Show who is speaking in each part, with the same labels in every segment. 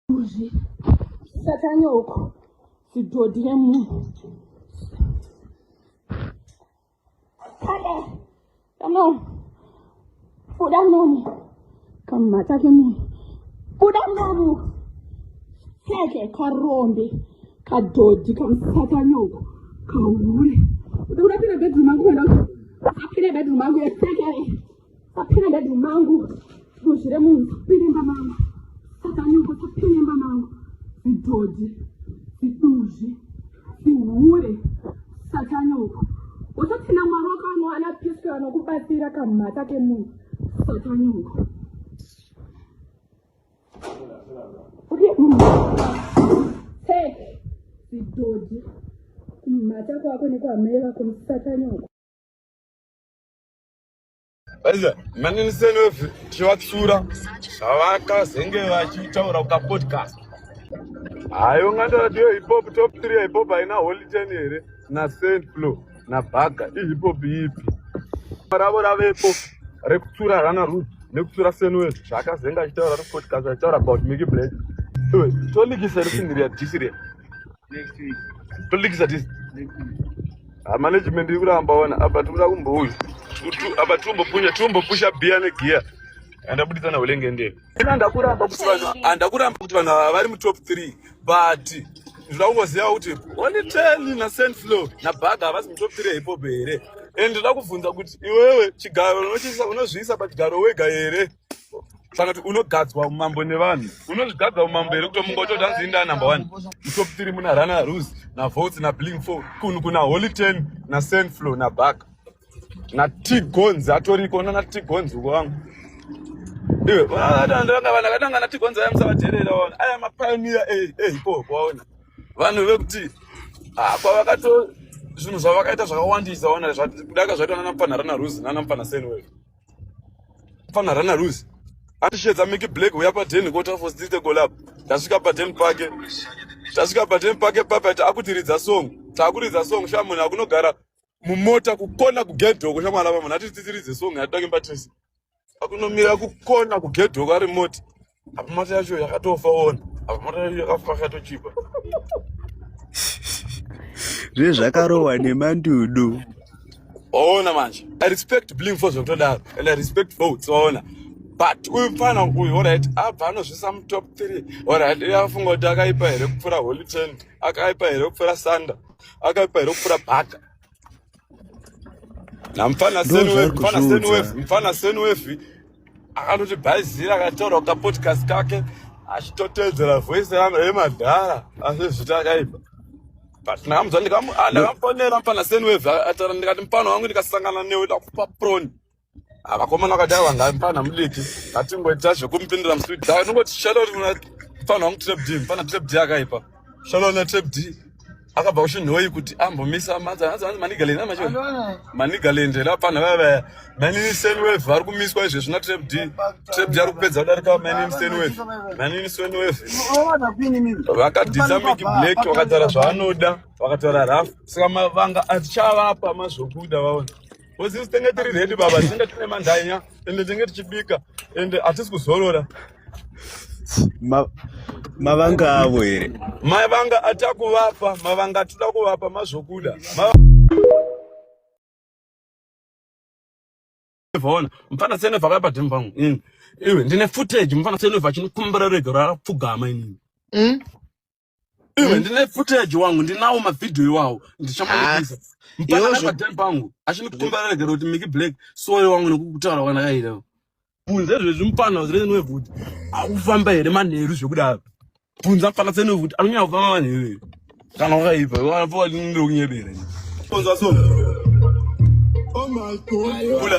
Speaker 1: Kuzvi satanyoko zvidhodhi remunhu kade kano buda munomu kamhata kemunhu buda munomu seke karombe kadhodhi kamusatanyoko kahure uda kuda pira bedroom angu kuenda apire bedroom angu yeseke Sapina dadi mangu duzvi remunhu sapinemba mangu sakanyuko sapinemba mangu zidhodhi ziduzvi zihure satanyoko wototina mwari wakano ana piske vanokubatsira kamhata kemunhu satanyoko zidhodhi kumhata kwako nekwamai vako musatanyoko
Speaker 2: Baiza, manini senofi tichivatsura zvavakazenge vachitaura ukapodcast. Hayo ngando radio hip hop top 3 hip hop haina holy ten here na saint flow na baga i hip hop ipi. Ravo ravepo rekutsura rana root nekutsura senofi zvakazenga achitaura repodcast achitaura about Mickey Black. Tolikisa risindiri ya disiri.
Speaker 3: Next week. Tolikisa this. Next
Speaker 2: week. Ah, management iri kuramba wana apa tikuda kumbouya apa tiombopunya tiombopusha biya negiya andabuditsa na hulenge ndee andakuramba kuti vanhu andakuramba kuti vanhu ava vari mutop three but ndinoda kungoziva kuti only ten na sand flow na baga havasi mutop three hipope here and ndoda kubvunza kuti iwewe chigaro unozviisa pachigaro wega here saka kuti unogadzwa umambo nevanhu unozvigadza umambo here kuto mungo toda nzi indaa number one mutop tiri muna runner rus navotes nabling four kunhu kuna holy ten nasenflow nabaka natigons atoriko nana tigons uko vangu iwe ndanga vanhu akatanga natigons aya musavaterera waona aya mapionia eipo kwaona vanhu vekuti ah, kwavakato zvinhu zvavakaita zvakawandisa waona kudaka zvaitwa nana mupfanharana rus nana mupfana senwell fana rana ruzi andishedza miki black uya paden kota for street golab tasvika paden pake tasvika paden pake papa taakutiridza song taakuridza song shamuna akunogara mumota kukona kugedhoko shamwana pamunhu atititiridze song yatitange patese akunomira kukona kugedhoko ari mota apa mota yacho yakatofa ona apa mota yacho yakafa akatochipa
Speaker 4: zvezvakarohwa nemandudu waona
Speaker 2: manje i respect bling for zvekutodaro and i respect votes waona but uyu mfana uyu orit abva anozvisa mutop three orit uye afunga kuti akaipa here kupfuura holy ten akaipa here kupfuura sanda akaipa here kupfuura bhaka namfana mfana senwefi akatoti bhaizira akataura kukapodcast kake achitoteedzera voice rangu remadhara asi zvita akaipa but ndakamudza ndakamufonera ah, mfana senwefi ataura ndikati mfana wangu ndikasangana newe ndakupa proni vakomana vakadai vanga mfana mudiki atingoita zvekumupindira muswidi dai unongoti shaloni mfana wangu trap d mfana trap d akaipa shaloni na trap d akabva kushinhoyi kuti ambomisa manigalend macho manigalend la pano vava manini senwave vari kumiswa izvezvi na trap d trap d ari kupedza kudarika manini senwave manini senwave vakadhisa miki black vakataura zvaanoda vakataura rafu saka mavanga atichavapa mazvokuda vaona Ozizi tenge tiri ready baba, tenge tine mandanya ende tenge tichibika ende hatisi kuzorora. Ma,
Speaker 4: mavanga avo here? Mavanga
Speaker 2: atakuvapa, mavanga atida kuvapa mazvokuda. Ma... Vaona, mfana sene vakaya padhemu pangu. Mm. Iwe, ndine footage, mfana sene vachinokumbira rega rapfugama inini. Mm. Iwe hmm? ndine footage wangu ndinawo mavideo iwawo ndichamanipisa ah, mpaka napadem pangu achinikukumbara regera kuti miki black soye wangu nekukutaura kwanakaita bvunza zvezvi mupana zirene kuti akufamba here manheru zvekudaro bvunza mupana tsene kuti anonyanya kufamba manheru here kana wakaipa wakunyebera bvunza so oh my god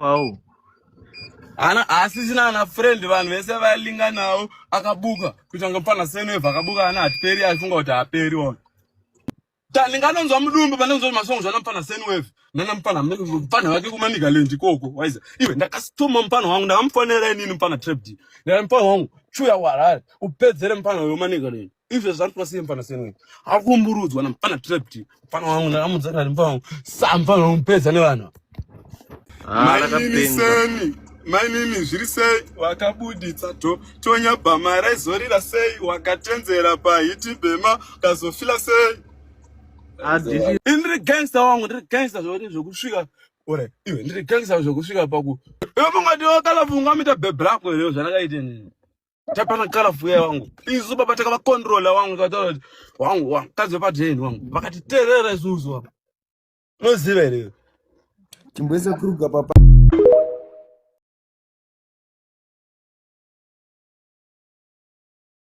Speaker 2: Wow. Ana asisina ana friend vanhu vese valinga nawo akabuka kuita kunge mfana senweva akabuka ana hatiperi aifunga kuti haperi ona. Ta ndinganonzwa mudumbu pandinonzwa kuti masongs ana mfana senweva nana mfana mfana wake kumanika lendi koko waiza iwe ndakasituma mfana wangu ndakamufonera inini mfana trap d ndakati mfana wangu chuya kuharare upedzere mfana uyo manika lendi izvo zvari kuva sei mfana seni akumburudzwa namfana trapti mfana wangu ndakamudza kani mfana wangu sa mfana wangu pedza nevanhu ah, mainini seni mainini zviri sei wakabuditsa to tonya bhama raizorira sei wakatenzera pahiti bhema kazofila sei ndiri gangsta wangu ndiri gangsta zvoti zvekusvika ore iwe ndiri gangsta zvekusvika paku iwe mungati wakalafunga mita bebrakwe reo zvanakaitenini tapana kala vuya wangu isu baba takavakontrola wangu kataura kuti wangu wangu kadzi vepadreni wangu vakatiterera isusu wangu unoziva
Speaker 4: here timboisa
Speaker 2: kuruga papa